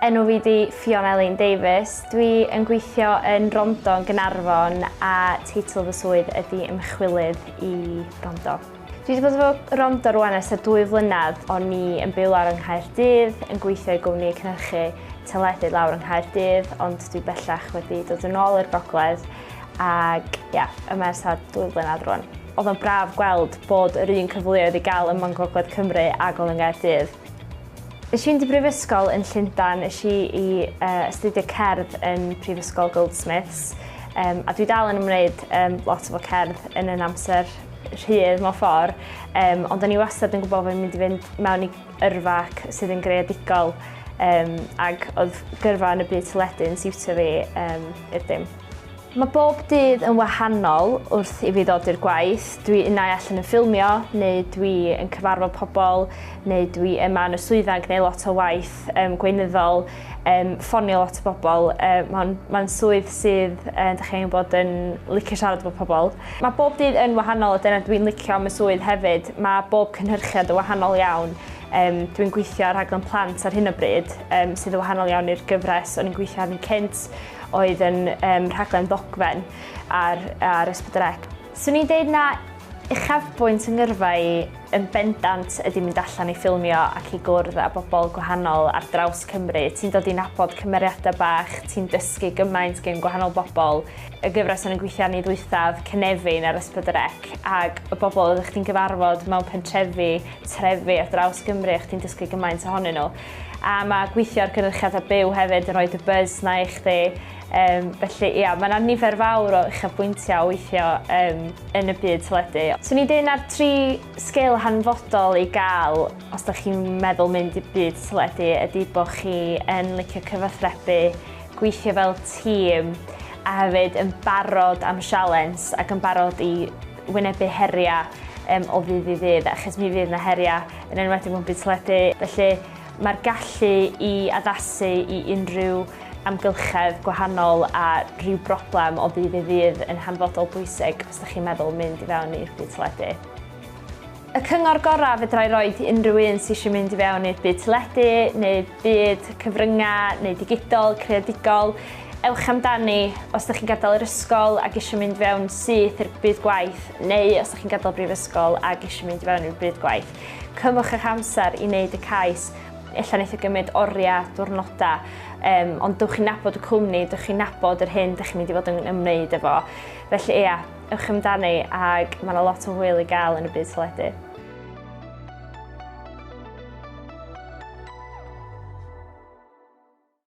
Enw fi di Fiona Elin Davies. Dwi yn gweithio yn Rondo yn Gynarfon a teitl fy swydd ydy ymchwilydd i Rondo. Dwi wedi bod efo Rondo rwan ers y dwy flynedd o'n ni yn byw lawr yng Nghaerdydd yn gweithio i gwmni cynhyrchu teledu lawr yng Nghaerdydd ond dwi bellach wedi dod yn ôl i'r gogledd Ac ie, yeah, y mae'r sad dwy flynedd rwan. Oedd o'n braf gweld bod yr un cyfleoedd i gael ym Mhont Gogledd Cymru ag oedd yn Gaerdydd. Nes i'n di brifysgol yn Llundan, nes i i uh, astudio cerdd yn Prifysgol Goldsmiths, um, a dwi dal yn ymwneud um, lot o fo cerdd yn yn amser rhydd mewn ffordd, um, ond o'n i wastad yn gwybod fod fi'n mynd i fynd mewn i yrfa ac sydd yn greadigol um, ac oedd gyrfa yn y byd teledu yn siwtio fi um, i'r dim. Mae bob dydd yn wahanol wrth i fi ddod i'r gwaith. Dwi unau allan yn ffilmio, neu dwi yn cyfarfod pobl, neu dwi yma yn y swyddfa yn gwneud lot o waith um, gweinyddol. um, ffonio lot o bobl. Uh, Mae'n ma swydd sydd, uh, da chi'n bod yn licio siarad efo pobl. Mae bob dydd yn wahanol a dyna dwi'n licio am y swydd hefyd. Mae bob cynhyrchiad yn wahanol iawn. Um, dwi'n gweithio ar rhaglen plant ar hyn o bryd, um, sydd yn wahanol iawn i'r gyfres o'n i'n gweithio arni cynt, oedd yn um, rhaglen ddogfen ar, ar Ysbryd Swn i'n deud na uchafbwynt 'y ngyrfa i yn bendant ydi mynd allan i ffilmio ac i gwrdd â bobl gwahanol ar draws Cymru. Ti'n dod i nabod cymeriadau bach, ti'n dysgu gymaint gen gwahanol bobl. Y gyfres o'n i'n gweithio arni ddwythaf, Cynefin ar S4C, ag y bobl oeddech chdi'n gyfarfod mewn pentrefi, trefi ar draws Gymru a chdi'n dysgu gymaint ohonyn nhw. A mae gweithio ar gynyrchiadau byw hefyd yn rhoi dy buzz 'na i chdi. Yym, felly, ia, mae yna nifer fawr o uchafbwyntiau o weithio um, yn y byd teledu. So ni dyn ar tri sgil hanfodol i gael os da chi'n meddwl mynd i byd teledu ydy bod chi yn licio cyfathrebu, gweithio fel tîm a hefyd yn barod am sialens ac yn barod i wynebu heriau um, o ddydd i ddydd, achos mi fydd yna heriau yn enwedig mewn byd teledu. Felly mae'r gallu i addasu i unrhyw amgylchedd gwahanol a rhyw broblem o ddydd i ddydd yn hanfodol bwysig os ydych chi'n meddwl mynd i fewn i'r byd teledu. Y cyngor gorau fedra i roed i unrhyw un sydd eisiau mynd i fewn i'r byd teledu neu byd cyfryngau neu digidol, creadigol, ewch amdani, os ydych chi'n gadael yr ysgol ac eisiau mynd fewn syth i'r byd gwaith neu os ydych chi'n gadael brifysgol ac eisiau mynd i fewn i'r byd gwaith, cymwch eich amser i wneud y cais Ella wneith o gymryd oriau, diwrnodau, um, ond dewch chi'n nabod y cwmni, dewch chi'n nabod yr hyn dych chi'n mynd i fod yn ymwneud efo. Felly ia, ewch amdani ac mae yna lot o hwyl i gael yn y byd teledu.